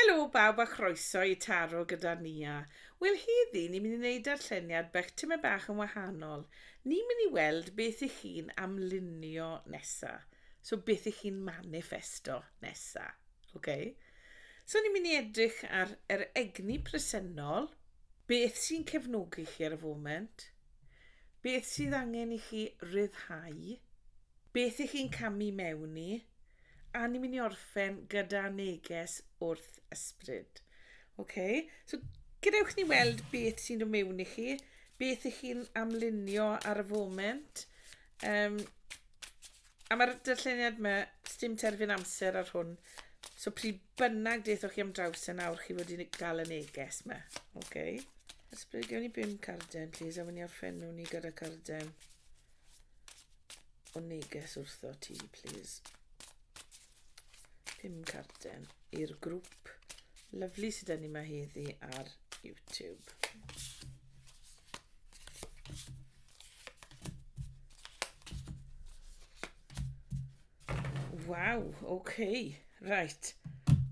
Helo bawb a chroeso i Taro gyda Nia. Wel heddi ni'n mynd i neud darlleniad bach tymed bach yn wahanol. Ni'n mynd i weld beth i chi'n amlunio nesa. So beth i chi'n maniffesto nesa. Ok? So ni'n mynd i edrych ar yr egni presennol, beth sy'n cefnogi chi ar y foment, Beth sydd angen i chi ryddhau? Beth ych chi'n camu mewn i? A ni'n mynd i orffen gyda neges wrth ysbryd. OK, so gadewch ni weld beth sy'n dod mewn i chi, beth ych chi'n amlunio ar y foment. Um, A mae'r darlleniad yma, sdim terfyn amser ar hwn. So pryd bynnag deithoch chi am draws e nawr, chi wedi gael y neges yma. OK. Ysbryd, gewn ni bum carden, please, a wyni orffenw ni gyda carden o neges wrtho ti, please. Pum carden i'r grŵp lyflu sydd dyn ni yma heddi ar YouTube. Waw, oce, okay. reit.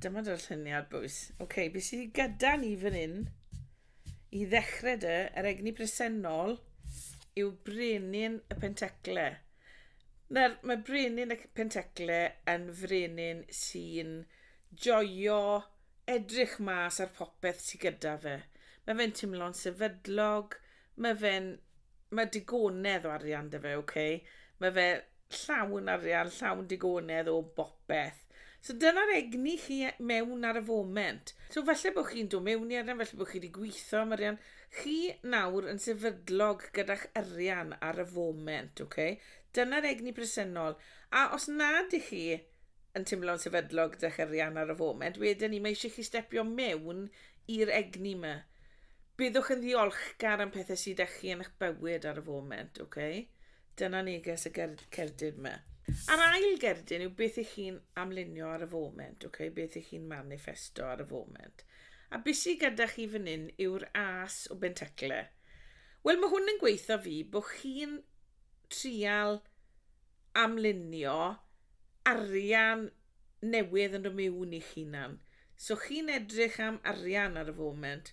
Dyma dy'r lluniad, bwys. Oce, okay, beth sydd wedi gyda ni fan hyn? I ddechrau dy, yr egni presennol yw brenin y pentecle. Nawr, mae brenin y Pentecle yn frenin sy'n joio edrych mas ar popeth sydd gyda fe. Mae fe'n timlo'n sefydlog, mae fe'n... mae digonedd o arian 'da fe, ok? Mae fe llawn arian, llawn digonedd o bopeth. beth. So dyna'r egni chi e- mewn ar y foment. So falle bod chi'n dod mewn i arian, falle bod chi wedi gweithio am arian. Chi nawr yn sefydlog gyda'ch arian ar y foment, ok? Dyna'r egni presennol. A os nad i chi yn teimlo'n sefydlog gyda'ch arian ar y foment, wedyn ni mae eisiau chi stepio mewn i'r egni yma. Byddwch yn ddiolchgar am pethau sydd â chi yn eich bywyd ar y foment, ok? Dyna neges y ger cerdyn yma. A'r ail gerdyn yw beth i chi'n amlunio ar y foment, okay? beth i chi'n manifesto ar y foment. A busi gyda chi fan hyn yw'r as o bentacle. Wel, mae hwn yn gweithio fi bod chi'n trial amlunio arian newydd yn y miwn i'ch hunan. So chi'n edrych am arian ar y foment,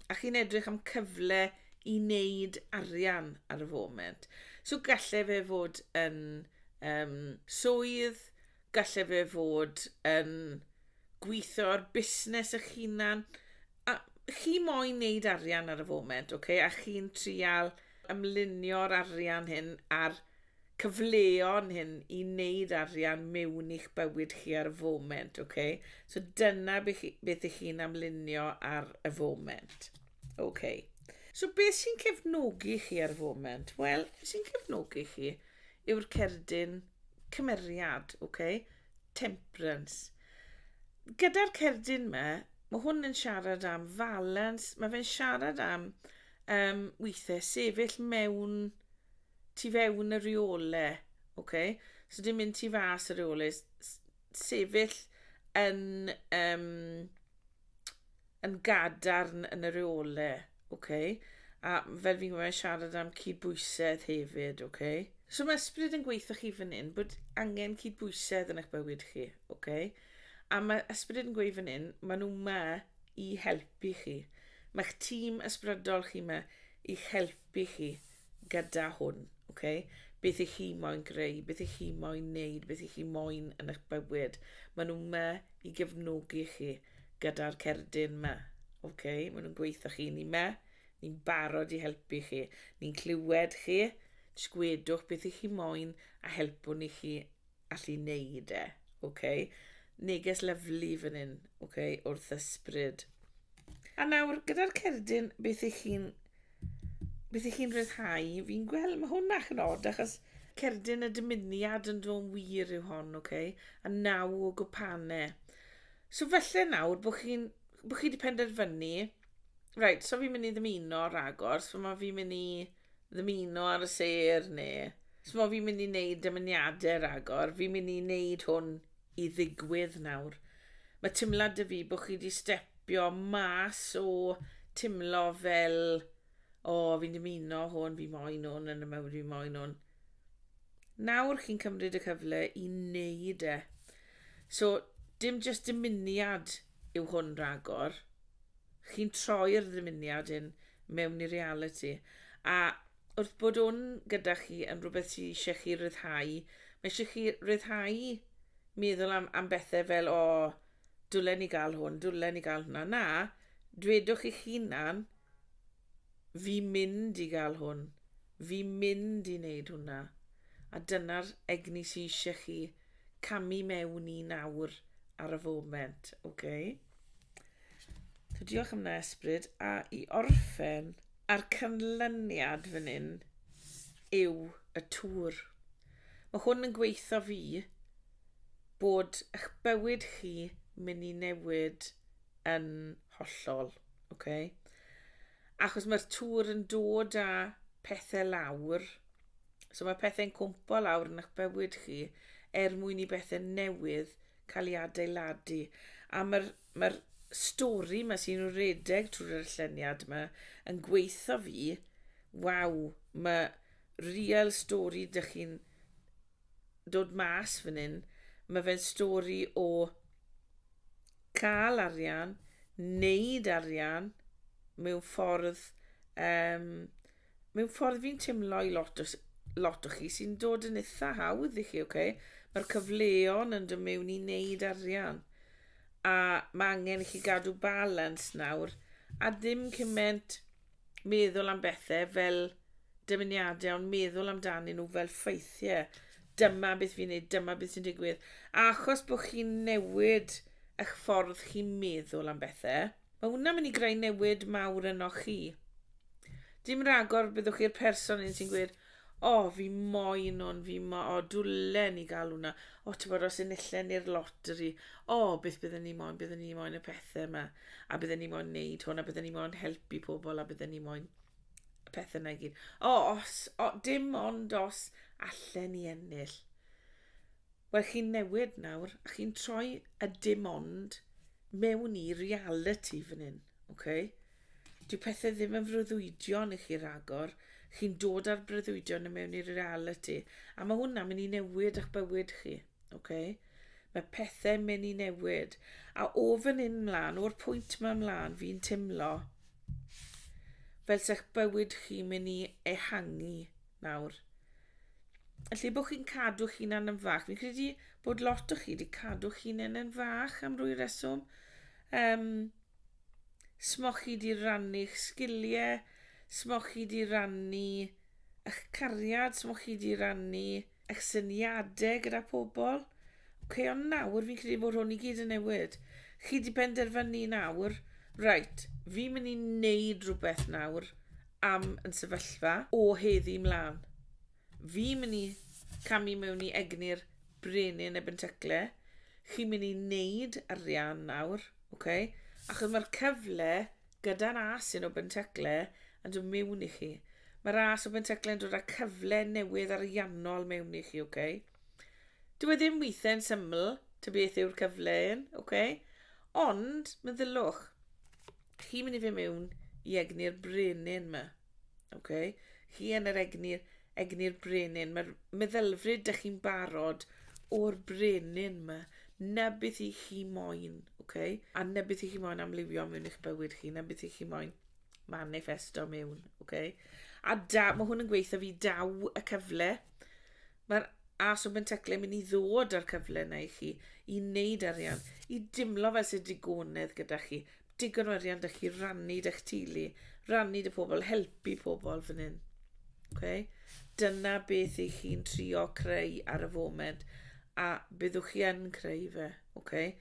a chi'n edrych am cyfle i wneud arian ar y foment. So gallai fe fod yn um, swydd, gallai fe fod yn gweithio ar busnes eich hunan, a chi moyn wneud arian ar y foment, okay? a chi'n trial ymlunio'r arian hyn ar cyfleon hyn i wneud arian mewn i'ch bywyd chi ar y foment, ok? So dyna beth chi, beth ych chi'n amlinio ar y foment. Ok. So beth sy'n cefnogi chi ar y foment? Wel, beth sy'n cefnogi chi yw'r cerdyn cymeriad, ok? Temperance. Gyda'r cerdyn yma, mae hwn yn siarad am falans, mae fe'n siarad am um, weithiau sefyll mewn tu fewn y reole, ok? So dim mynd tu fas y reole, sefyll yn, um, yn gadarn yn y reole, ok? A fel fi'n gwybod, siarad am cydbwysedd hefyd, ok? So mae ysbryd yn gweithio chi fan hyn bod angen cydbwysedd yn eich bywyd chi, ok? A mae ysbryd yn gweithio fan hyn, maen nhw ma i helpu chi. Mae'ch tîm ysbrydol chi ma i'ch helpu chi. gyda hwn, ok? Beth ych chi moyn greu, beth ych chi moyn neud, beth ych chi moyn yn eich bywyd. Maen nhw yma i gefnogi chi gyda'r cerdyn yma, ok? Maen nhw'n gweithio chi, ni yma, ni'n barod i helpu chi. Ni'n clywed chi, jyst gwedwch beth ych chi moyn a helpwn i chi allu neud e, oce? Neges lyflu fan hyn, oce, wrth ysbryd. A nawr, gyda'r cerdyn, beth ych chi'n... Beth ych chi'n rhyddhau? Fi'n gweld, mae hwnna yn od, achos cerdyn y dymuniad yn dod wir yw hon, oce? A naw o gwpane. So felly nawr, bod chi'n... Bod chi wedi penderfynu... Right, so fi'n mynd i ddymuno ragor, so mae fi'n mynd i ddymuno ar y sêr neu Ch'mo' fi'n mynd i wneud dymuniadau ragor, fi'n mynd i wneud hwn i ddigwydd nawr. Mae timlad 'da fi bod chi wedi stepio mas o timlo fel o, fi'n dymuno hwn, fi moyn hwn yn y mywyd, fi moyn hwn. Nawr chi'n cymryd y cyfle i wneud e. So, dim jyst dymuniad yw hwn ragor. chi'n troi'r ddymuniad hyn mewn i realiti. A wrth bod hwn gyda chi yn rhywbeth sydd eisiau chi ryddhau, mae eisiau chi ryddhau meddwl am, am bethau fel, o, oh, dwlen ni gael hwn, dwlen ni gael hwnna. Na, dwedwch eich hunan, Fi mynd i gael hwn. Fi mynd i neud hwnna. A dyna'r egni sy isie chi camu mewn i nawr ar y foment. Oce? So diolch am na Esbryd. A i orffen a'r canlyniad fan hyn yw y tŵr. Mae hwn yn gweitho fi bod eich bywyd chi mynd i newid yn hollol, ok? Achos mae'r tŵr yn dod â pethau lawr, so mae pethau'n cwmpo lawr yn eich bywyd chi er mwyn i bethau newydd cael ei adeiladu. A mae'r mae stori yma sy'n redeg trwy'r lluniad yma yn gweithio fi, waw, mae real stori dych chi'n dod mas fan hyn, mae fe'n stori o cael arian, wneud arian mewn ffordd um, mewn ffordd fi'n teimlo i lot o, lot o chi sy'n dod yn eitha hawdd i chi, oce? Okay? Mae'r cyfleon yn dod mewn i wneud arian. A mae angen i chi gadw balans nawr, a ddim cymaint meddwl am bethe fel dymuniade ond meddwl amdanyn nhw fel ffeithie. Dyma beth fi'n neud, dyma beth sy'n digwydd. A achos bod chi'n newid eich ffordd chi'n meddwl am bethe, mae hwnna mynd i greu newid mawr yno chi. Dim ragor byddwch chi'r person un sy'n gweud, O fi moyn hwn fi mo- o dwlen i ga'l hwnna. O t'bod os enillen ni'r lottery o beth bydden ni moyn bydden ni moyn y pethe 'ma a bydden ni moyn neud hwn a bydden ni moyn helpu pobl a bydden ni moyn y pethe 'na i gyd. O os o dim ond os allen ni ennill. Wel chi'n newid nawr a chi'n troi y dim ond mewn i realiti fan 'yn. Ok. Dyw pethe ddim yn freuddwydion i chi ragor, chi'n dod â'r breuddwydion i mewn i realiti, a mae hwnna'n mynd i newid eich bywyd chi. Ok. Mae pethau'n mynd i newid. A o fan hyn mlaen, o'r pwynt yma mlaen, fi'n timlo fel sech bywyd chi'n mynd i ehangu nawr. Lle bod chi'n cadw chi'n yn fach, fi'n credu bod lot o chi wedi cadw chi'n yn fach am rwy reswm, Yym, smoch chi 'di rannu'ch sgilie? Smoch chi 'di rannu 'ych cariad? Smoch chi 'di rannu 'ych syniade gyda pobl? Oce, ond nawr fi'n credu bod hwn i gyd yn newid. Chi 'di penderfynu nawr, reit, fi'n mynd i wneud rhywbeth nawr am yn sefyllfa o heddi mlaen. Fi'n mynd i camu mewn i egni'r brenin ebyn tecle. Chi'n mynd i wneud arian nawr, ok? Achos mae'r cyfle gyda'r as yn o bentecle yn dod mewn i chi. Mae'r as o bentecle yn dod â cyfle newydd ariannol mewn i chi, ok? Dyw e ddim weithiau yn syml, ta beth yw'r cyfle yn, ok? Ond, meddyliwch, chi'n mynd i fe mewn i egni'r brenin yma. OK. Chi yn yr egni'r egni'r brenin. Mae'r meddylfryd dych chi'n barod o'r brenin yma. Na beth i chi moyn, OK? A na beth i chi moyn amlifio mewn eich bywyd chi, na beth i chi moyn manifesto mewn, OK? A da, mae hwn yn gweithio fi daw y cyfle Mae'r Arse Open Teclyn yn mynd i ddod â'r cyfle yna i chi i wneud arian, i dimlo fel sydd digonedd gyda chi. Digon o arian da chi rannu da'ch teulu, rannu dy pobl, helpu pobl fan hyn. Okay? Dyna beth i chi'n trio creu ar y foment, a byddwch chi yn creu fe, okay?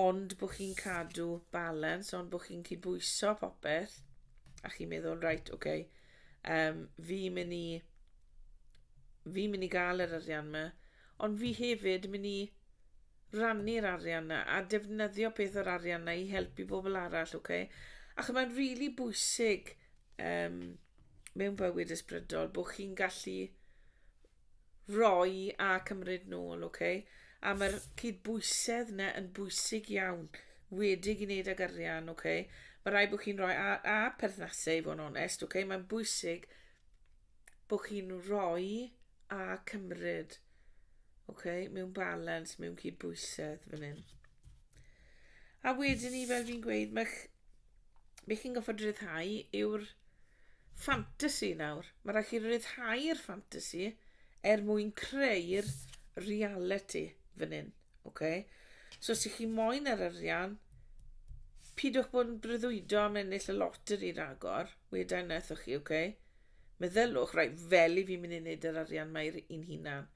ond bod chi'n cadw balans, ond bod chi'n cydbwyso popeth, a chi'n meddwl, reit, oce, okay, um, fi mynd i fi'n mynd i gael yr arian yma, ond fi hefyd yn mynd i rannu'r arian yna a defnyddio peth o'r arian yna i helpu bobl arall, oce? Okay? Ac mae'n rili really bwysig um, mewn bywyd ysbrydol bod chi'n gallu roi a cymryd nôl, oce? Okay? A mae'r cydbwysedd yna yn bwysig iawn, wedig i wneud ag arian, oce? Okay? Mae rhaid bod chi'n rhoi a, a perthnasau i fod yn onest, oce? Okay? Mae'n bwysig bod chi'n rhoi a cymryd. Okay? Mewn balans, mewn cydbwysedd fan hyn. A wedyn ni, fel fi'n gweud, mae'ch be chi'n goffod rhyddhau yw'r ffantasi nawr. Mae rhaid chi rhyddhau'r ffantasi er mwyn creu'r reality fan hyn. Okay? So os ych chi moyn yr arian, pidwch bod yn breuddwydo am ennill y loteri ragor, wedau wnaethoch chi, okay? Meddyliwch, reit, fel i fi mynd i wneud yr arian mae i'n hunan.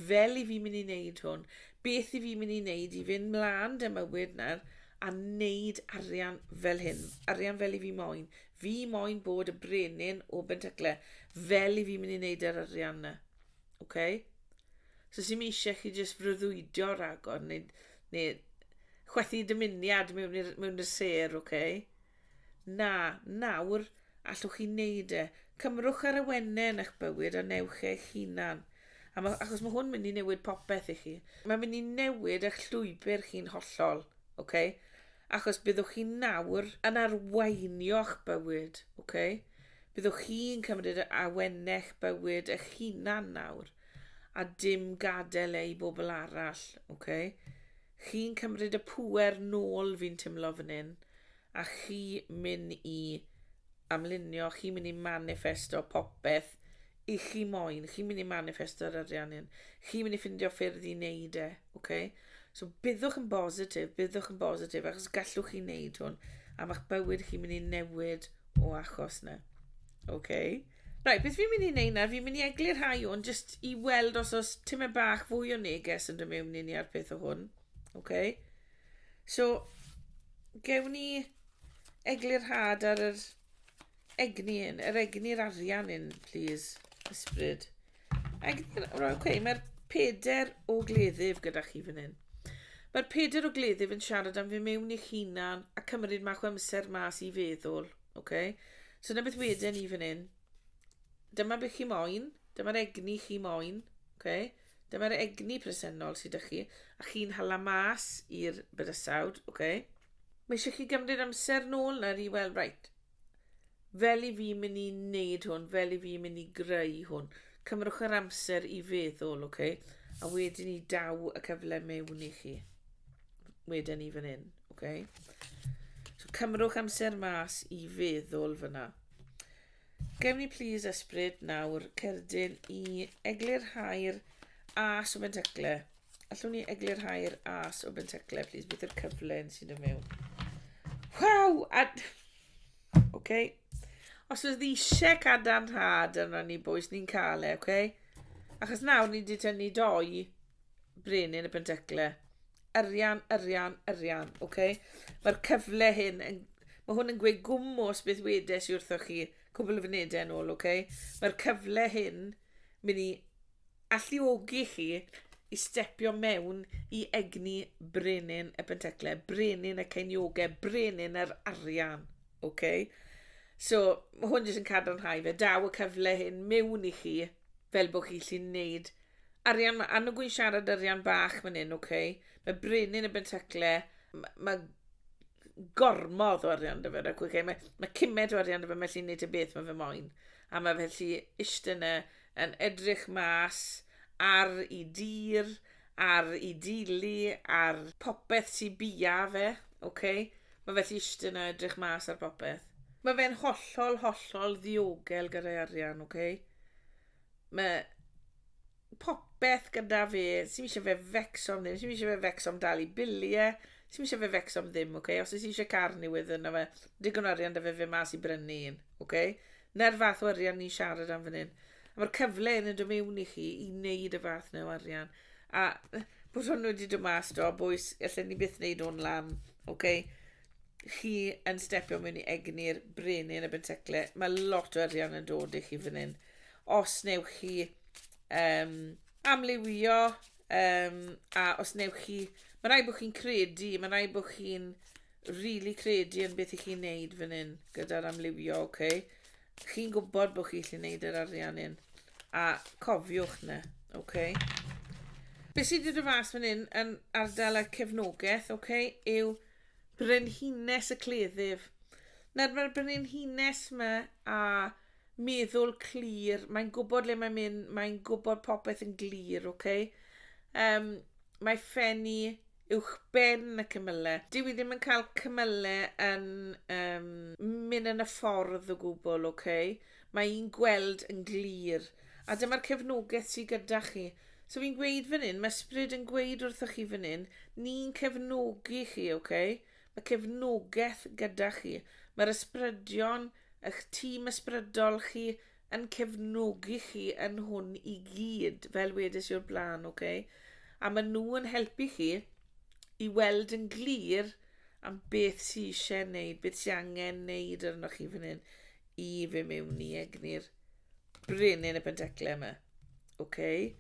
Fel i fi mynd i wneud hwn. Beth i fi mynd i wneud i fynd mlaen dy mywyd nawr a wneud arian fel hyn. Arian fel i fi moyn. Fi moyn bod y brenin o Bentacle. Fel i fi mynd i wneud yr arian na. Okay? So sy'n eisiau chi jyst freuddwydio rhagor neu, neu chwethu dymuniad mewn i'r, mewn i'r ser, oce? Okay? Na, nawr, allwch chi wneud e. Cymrwch ar awenau yn eich bywyd a newch eich hunan. A ma, achos mae hwn mynd i newid popeth i chi. Mae'n mynd i newid eich llwybr chi'n hollol, okay? Achos byddwch chi nawr yn arweinio'ch bywyd, okay? Byddwch chi'n cymryd y awenau'ch bywyd eich hunan nawr, a dim gadael e i bobl arall, okay? Chi'n cymryd y pŵer nôl fi'n timlo fan hyn a chi myn i amlunio, chi myn i maniffesto popeth i chi moyn, chi myn i maniffesto'r arian hyn, chi myn i ffindio ffyrdd i wneud e, ok? So byddwch yn bositif, byddwch yn bositif achos gallwch chi wneud hwn a mae'ch bywyd chi myn i newid o achos na, ok? Right, beth fi'n mynd i wneud nawr, fi'n mynd i eglu rhai o'n jyst i weld os oes tymed bach fwy o neges yn dod mewn i ni ar peth o hwn. Okay. So, gewn ni eglu'r rhad ar yr egni hyn, yr egni'r arian hyn, please, ysbryd. Egni'r, right, okay, mae'r peder o gleddyf gyda chi fan hyn. Mae'r peder o gleddyf yn siarad am fi mewn i'ch hunan a cymryd mach o amser mas i feddwl. Ok? So dyna beth weden ni fan hyn. Dyma beth chi moyn, dyma'r egni chi moyn, ok? Dyma'r egni presennol sydd â chi, a chi'n hala mas i'r bydysawd, ok? Mae eisiau chi gymryd amser nôl nawr i weld, right, fel i fi mynd i wneud hwn, fel i fi mynd i greu hwn. Cymrwch yr amser i feddwl, ok? A wedyn ni daw y cyfle mewn i chi. Wedyn ni fan hyn. Oce. So cymrwch amser mas i feddwl fyna. Gewn ni plis ysbryd nawr cerdyn i eglurhau'r as o bentecle. Allwn ni eglurhau'r as o bentecle, plis, beth yw'r cyfle yn sy'n dod mewn. Waw! A... Oce. Os ydw i eisiau cadarnhad yn rhan ni boes, ni'n cael e, oce? Achos nawr ni wedi tynnu doi brenin y pentecle. Arian, arian, arian, oce? Okay? Mae'r cyfle hyn yn... Mae hwn yn gweud gwmwys beth wedes i wrthoch chi cwbl o fynedau yn ôl, oce? Okay? Mae'r cyfle hyn mynd i alluogi chi i stepio mewn i egni brenin y pentecle, brenin y ceiniogau, brenin yr arian. Ok, so mae hwn jyst yn cadarnhau fe, daw y cyfle hyn mewn i chi fel bod chi lli wneud arian, mae annog gwy'n siarad arian bach fan hyn, ok? Mae brenin y bentacle, mae gormodd o arian dy fe, ac okay? mae, mae cymed o arian dy fe, mae lli wneud y beth mae fe moyn. A mae fe lli eistedd yna yn edrych mas ar i dir, ar i dili, ar popeth sy bia fe, ok? Mae fe allu ishte na edrych mas ar popeth. Mae fe'n hollol, hollol ddiogel gyda'i arian, ok? Mae popeth gyda fe, sy'n eisiau fe fecso am ddim, sy'n eisiau fe fecso am dalu biliau, sy'n eisiau fe fecso am ddim, ok? Os ys eisiau car newydd yna fe, digon arian da fe fe mas i brynu un, ok? 'Na'r fath o arian ni'n siarad am fan hyn. A mae'r cyfle yn yn dod mewn i chi i wneud y fath neu arian. A bod hwn wedi dod mas do, bwys, allan ni byth wneud hwn lan, oce? Okay? Chi yn stepio mewn i egni'r brenin y bentecle. Mae lot o arian yn dod i chi fan hyn. Os newch chi um, amlywio, um, a os newch chi... Mae rai bod chi'n credu, mae rai bod chi'n rili credu yn beth i chi'n neud fan hyn gyda'r amlywio, oce? Okay? Chi'n gwybod bod chi'n gallu neud yr arian hyn. A cofiwch na, oce? Okay? Be sydd wedi dod fas fan hyn yn ardal y cefnogaeth, oce, okay, yw brenhines y cleddyf. Nawr mae'r brenhines yma a meddwl clir, mae'n gwybod le mae'n mynd, mae'n gwybod popeth yn glir, oce? Okay? Um, mae ffenni uwchben y cymyle. Dyw i ddim yn cael cymyle yn um, mynd yn y ffordd o gwbl, oce? Okay? Mae hi'n gweld yn glir. A dyma'r cefnogaeth sydd gyda chi. So fi'n gweud fan hyn, mae ysbryd yn gweud wrthych chi fan hyn, ni'n cefnogi chi, oce? Okay? Mae cefnogaeth gyda chi. Mae'r ysbrydion, eich tîm ysbrydol chi, yn cefnogi chi yn hwn i gyd, fel wedes i o'r blaen, ok? A maen nhw yn helpu chi i weld yn glir am beth sy'n eisiau wneud, beth sy'n angen wneud arnoch chi fan hyn i fe mewn i egni'r brenin y penteclau yma. Okay?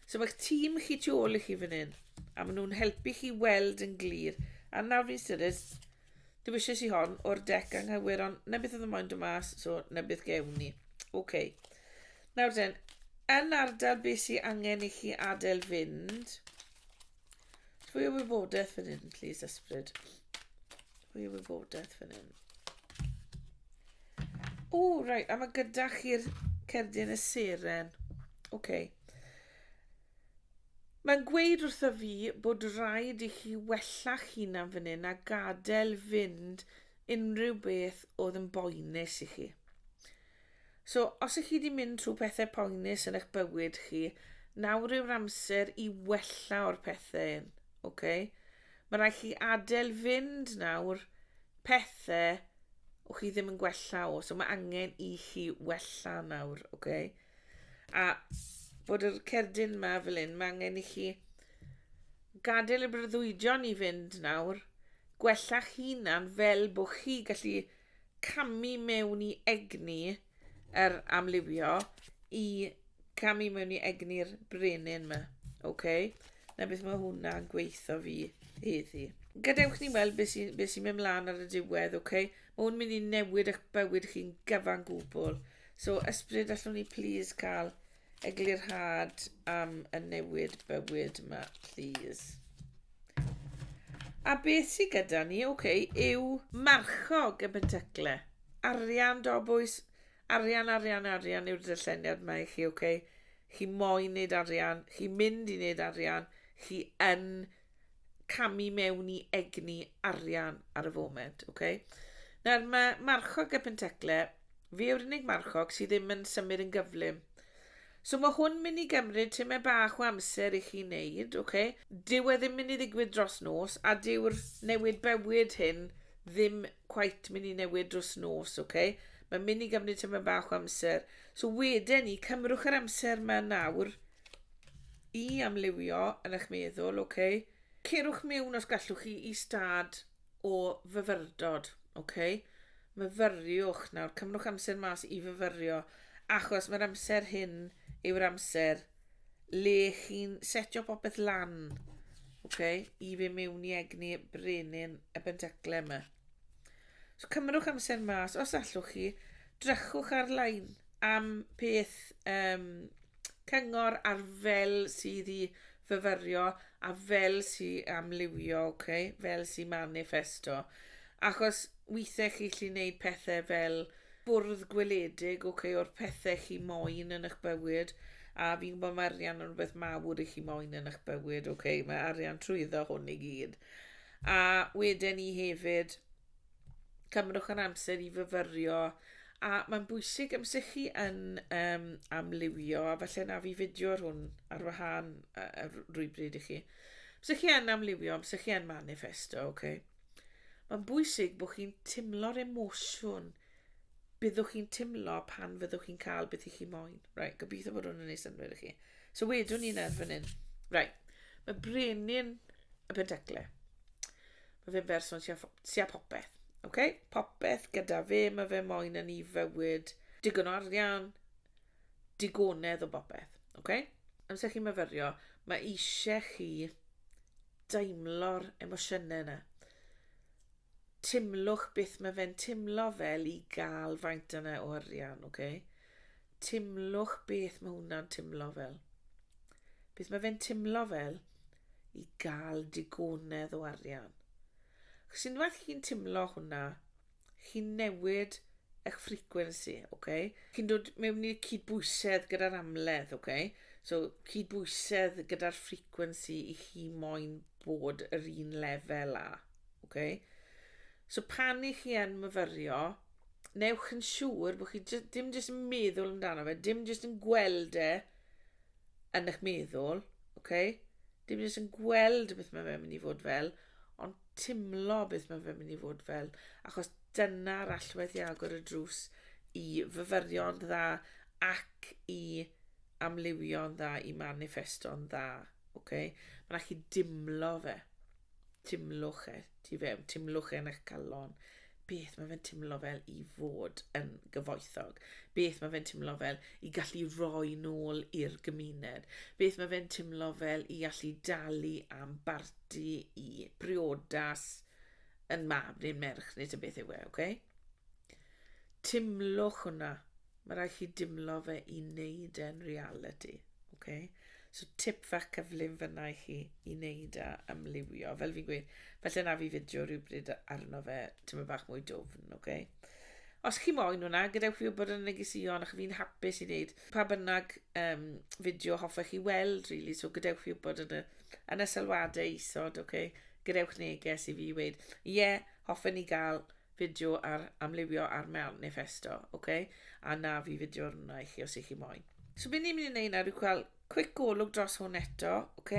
So mae'ch tîm chi tu ôl i chi fan hyn, a maen nhw'n helpu chi weld yn glir. A nawr fi'n styried, Dewisais i hon o'r dec anghywir, ond na beth oedd y moyn dod mas, so na beth gewn ni. OK. Nawr den, yn ardal beth sy'n angen i chi adael fynd, fwy o wybodaeth fan hyn, please, ysbryd. Fwy o wybodaeth fan hyn. O, right, a mae gyda chi'r cerdyn y seren. OK. Mae'n gweud wrtha fi bod raid i chi wella'ch hunan fan hyn a gadael fynd unrhyw beth oedd yn boenus i chi. So, os ych chi wedi mynd trwy pethau poenus yn eich bywyd chi, nawr yw'r amser i wella o'r pethau hyn, oce? Okay? Mae rhaid chi adael fynd nawr pethau o chi ddim yn gwella o, so mae angen i chi wella nawr, oce? Okay? A bod yr cerdyn yma fel un, mae angen i chi gadael y breuddwydion i fynd nawr, gwella'ch hunan fel bod chi gallu camu mewn i egni yr amlywio i camu mewn i egni'r brenin yma. Okay? Na beth mae hwnna'n gweithio fi heddi. Gadewch ni weld beth sy'n sy mynd mlaen ar y diwedd, okay? Mae hwn mynd i newid eich bywyd chi'n gyfan gwbl. So ysbryd allwn ni please cael eglurhad am y newid bywyd yma please. A beth sydd gyda ni, oce, okay, yw marchog y bentacle. Arian do bwys, arian, arian, arian yw'r dyllenniad mae chi, oce. Okay? Chi moyn wneud arian, chi mynd i wneud arian, chi yn camu mewn i egni arian ar y foment. Okay? Nawr, mae marchog y pentecle, fi yw'r unig marchog sydd ddim yn symud yn gyflym. So mae hwn mynd i gymryd tyma bach o amser i chi wneud, okay? Dyw e ddim mynd i ddigwydd dros nos, a dyw'r newid bywyd hyn ddim quite mynd i newid dros nos, okay? Mae'n mynd i gymryd tyma bach o amser. So wedyn ni, cymrwch yr amser mae nawr, I amlywio yn eich meddwl, ok. Cerwch miwn os gallwch chi i stad o fyfyrdod, ok. Myfyriwch nawr, cymrwch amser mas i fyfyrio, achos mae'r amser hyn yw'r amser le chi'n setio popeth lan, ok, i fi miwn i egni brenin y bentacle yma. So cymrwch amser mas, os allwch chi, drychwch ar-lein, am peth um, cyngor ar fel sydd i fyfyrio a fel sydd amlywio, okay? fel sydd manifesto. Achos weithiau chi chi wneud pethau fel bwrdd gweledig okay, o'r pethau chi moyn yn eich bywyd a fi'n gwybod mae arian yn rhywbeth mawr i chi moyn yn eich bywyd, okay? mae arian trwyddo hwn i gyd. A wedyn ni hefyd, cymrwch yr amser i fyfyrio a mae'n bwysig amser chi yn um, amlywio a falle na fi fideo ar hwn ar wahân uh, rhywbryd i chi amser chi yn amlywio amser chi yn manifesto okay? mae'n bwysig bod chi'n timlo'r emosiwn byddwch chi'n timlo pan fyddwch chi'n cael beth i chi moyn right, gobeithio bod hwn yn ei synwyr i chi so wedwn ni'n erbyn hyn right, mae brenin y pentaclau Mae fe'n berson tua, tua popeth. Okay? Popeth gyda fe, mae fe moyn yn ei fywyd. Digon o arian, digonedd o bopeth. Okay? Amser chi'n myfyrio, mae eisiau chi daimlo'r emosiynau yna. Timlwch beth mae fe'n timlo fel i gael faint yna o arian, okay? Timlwch beth mae hwnna'n timlo fel. Beth mae fe'n timlo fel i gael digonedd o arian. Chos unwaith chi'n timlo hwnna, chi'n newid eich ffrequency, oce? Okay? Chi'n dod mewn i'r cydbwysedd gyda'r amledd, oce? Okay? So, cydbwysedd gyda'r ffrequency i chi moyn bod yr un lefel a, oce? Okay? So, pan i chi yn myfyrio, newch yn siŵr bod chi dim jyst yn meddwl amdano fe, dim jyst yn gweld e yn eich meddwl, ok? Dim jyst yn gweld beth mae fe'n mynd i fod fel, ond timlo beth mae fe'n mynd i fod fel, achos dyna'r allwedd i agor y drws i fyfyrion dda ac i amliwio'n dda, i manifesto'n dda, ok? Mae'n allu dimlo fe. timlwch e tu fewn, timlwch e yn eich calon, beth mae fe'n timlo fel i fod yn gyfoethog, beth mae fe'n timlo fel i gallu roi nôl i'r gymuned, beth mae fe'n timlo fel i allu dalu am barti i briodas yn mab neu'n merch neu tyn beth yw e, okay? Timlwch hwnna, Mae rhaid chi dimlo fe i wneud e'n reality. Okay? So tip fach cyflym fyna i chi i wneud a ymliwio. Fel fi'n gweud, felly na fi fideo rhywbryd arno fe, ti'n mynd bach mwy dwfn, okay? Os chi moyn hwnna, gadewch fi wybod yn y negesion, ac fi'n hapus i wneud pa bynnag um, fideo hoffech chi weld, really, so gadewch fi wybod yn y, yn y sylwadau isod, okay? gadewch neges i fi i weid, ie, yeah, hoffen ni gael fideo ar amlywio ar Manifesto, ok? A na fi fideo hwnna i chi os ych chi moyn. So beth ni'n mynd i wneud nawr yw cael quick golwg dros hwn eto, ok?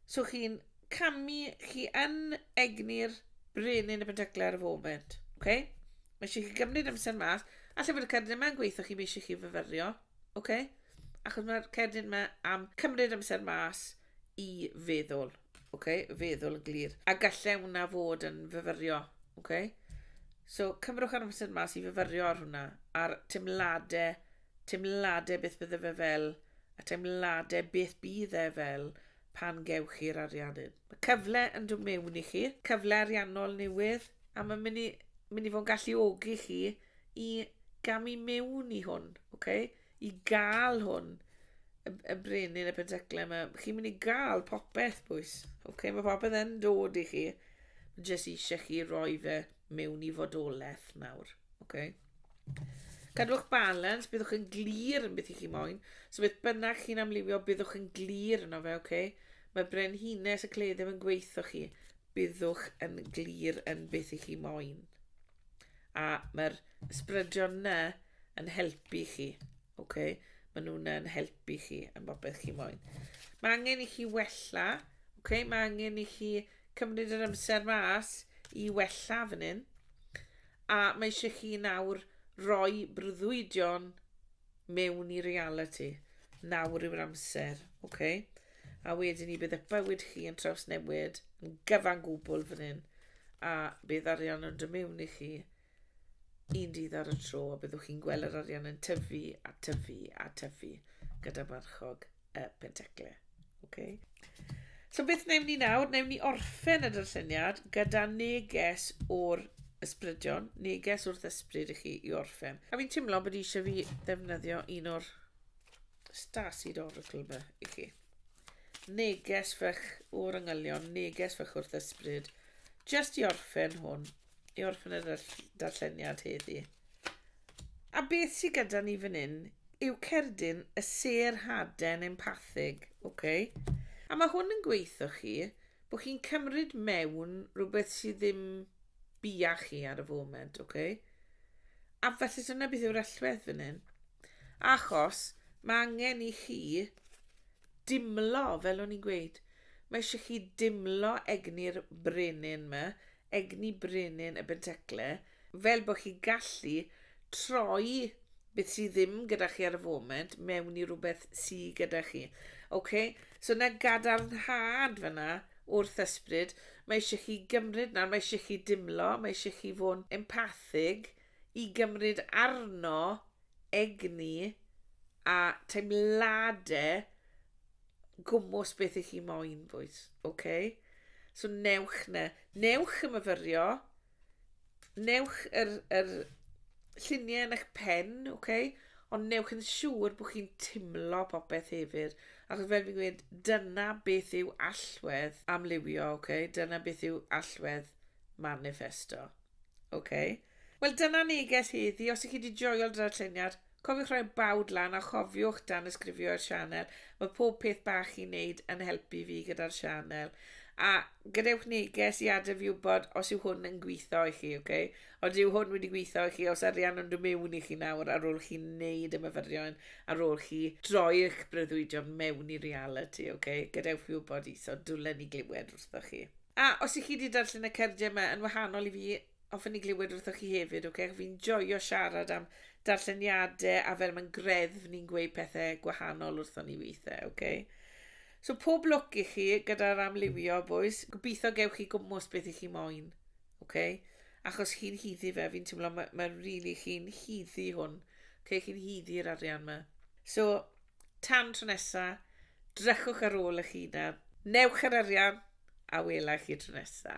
So chi'n camu, chi yn egni'r brenin y pentaclau ar y foment, ok? Mae eisiau chi gymryd amser mas, allai fod y cerdyn yma'n gweithio chi, mae eisiau chi fyfyrio, ok? Achos mae'r cerdyn yma am cymryd amser mas, i feddwl, ok? Feddwl yn glir. A gallai hwnna fod yn fyfyrio, ok? So, cymrwch ar amser mas i fyfyrio ar hwnna, a'r teimladau, teimladau beth bydde fe fel, a teimladau beth bydd e fel pan gewch chi'r arian hyn. Mae cyfle yn dod mewn i chi, cyfle ariannol newydd, a mae'n mynd i, mynd i fod yn galluogi chi i gamu mewn i hwn, ok? i gael hwn yn, yn brenin y penteclau yma. Chi'n mynd i gael popeth, bwys. Oce, okay, mae popeth yn dod i chi. Mae jyst eisiau chi roi fe mewn i fodolaeth nawr. Oce? Okay? Cadwch balans, byddwch yn glir yn beth i chi moyn. So beth bynnag chi'n amlifio, byddwch yn glir yno fe, oce? Okay? Mae brenhines y cledd ddim yn gweithio chi. Byddwch yn glir yn beth i chi moyn. A mae'r sbrydion na yn helpu chi. Okay? Mae nhw'n yn helpu chi yn bobeth chi moyn. Mae angen i chi wella. Okay? Mae angen i chi cymryd yr amser mas i wella fan hyn. A mae eisiau chi nawr roi brwyddion mewn i realiti. Nawr yw'r amser, ok? A wedyn ni bydd eich bywyd chi yn trawsnewid yn gyfan gwbl fan hyn, a bydd arian yn dod mewn i chi un dydd ar y tro, a byddwch chi'n gweld yr arian yn tyfu a tyfu a tyfu gyda marchog. y penteclu. Okay. So beth wnawn ni nawr? Wnawn ni orffen y darlleniad gyda neges o'r ysbrydion, neges wrth ysbryd i chi i orffen. A fi'n teimlo bod eisiau fi ddefnyddio un o'r Stasid Oracle yma i chi. Neges fych o'r yngylion, neges fych wrth ysbryd, just i orffen hwn i orffen y darlleniad heddi. A beth sydd gyda ni fan hyn yw cerdyn y ser haden empathig, oce? Okay? A mae hwn yn gweithio chi bod chi'n cymryd mewn rhywbeth sydd ddim bia chi ar y foment, oce? Okay? A felly dyna beth yw'r allwedd fan hyn. Achos mae angen i chi dimlo, fel o'n i'n gweud, mae eisiau chi dimlo egni'r brenin yma, egni brenin y Benteclle, fel bod chi'n gallu troi beth sydd ddim gyda chi ar y foment mewn i rhywbeth sydd gyda chi. OK? So na gadarnhad fyna wrth ysbryd, mae eisiau chi gymryd nawr, mae eisiau chi dimlo, mae eisiau chi fod yn empathig i gymryd arno egni a teimladau gwmws beth ych chi moyn, boys. OK? So newch na. Newch y myfyrio. Newch yr, yr lluniau yn eich pen, OK? Ond newch yn siŵr bod chi'n timlo popeth hefyd. Achos fel fi'n gweud, dyna beth yw allwedd amlywio, OK? Dyna beth yw allwedd manifesto. OK? Wel, dyna neges heddi. Os ych chi wedi joio'r darlleniad, Cofiwch roi bawd lan a chofiwch danysgrifio i'r sianel, mae pob peth bach chi'n neud yn helpu fi gyda'r sianel. A gadewch neges i adre fi wybod os yw hwn yn gwitho i chi, ok? Ond yw hwn wedi gwitho i chi os arian yn dymewn i chi nawr ar ôl chi neud y myfyrion, ar ôl chi droi eich breuddwydion mewn i realiti, ok? Gadewch fi wybod iso, dwlen i glywed wrthoch chi. A os i chi di darllen y cerdie yma yn wahanol i fi, Hoffwn i glywed wrthoch chi hefyd, ok? Fi'n joio siarad am darlleniadau a fel mae'n greddf ni'n gweud pethau gwahanol wrthon ni weithiau, ok? So pob lwc i chi gyda'r amlywio, boys. Gobeithio gewch chi gwmwys beth i chi moyn, ok? Achos chi'n hyddi fe, fi'n teimlo mae, mae really chi'n hyddi hwn. Ok, chi'n hyddi'r arian yma. So, tan tro nesa, drychwch ar ôl eich hunan, newch yr arian, a wela chi tro nesa.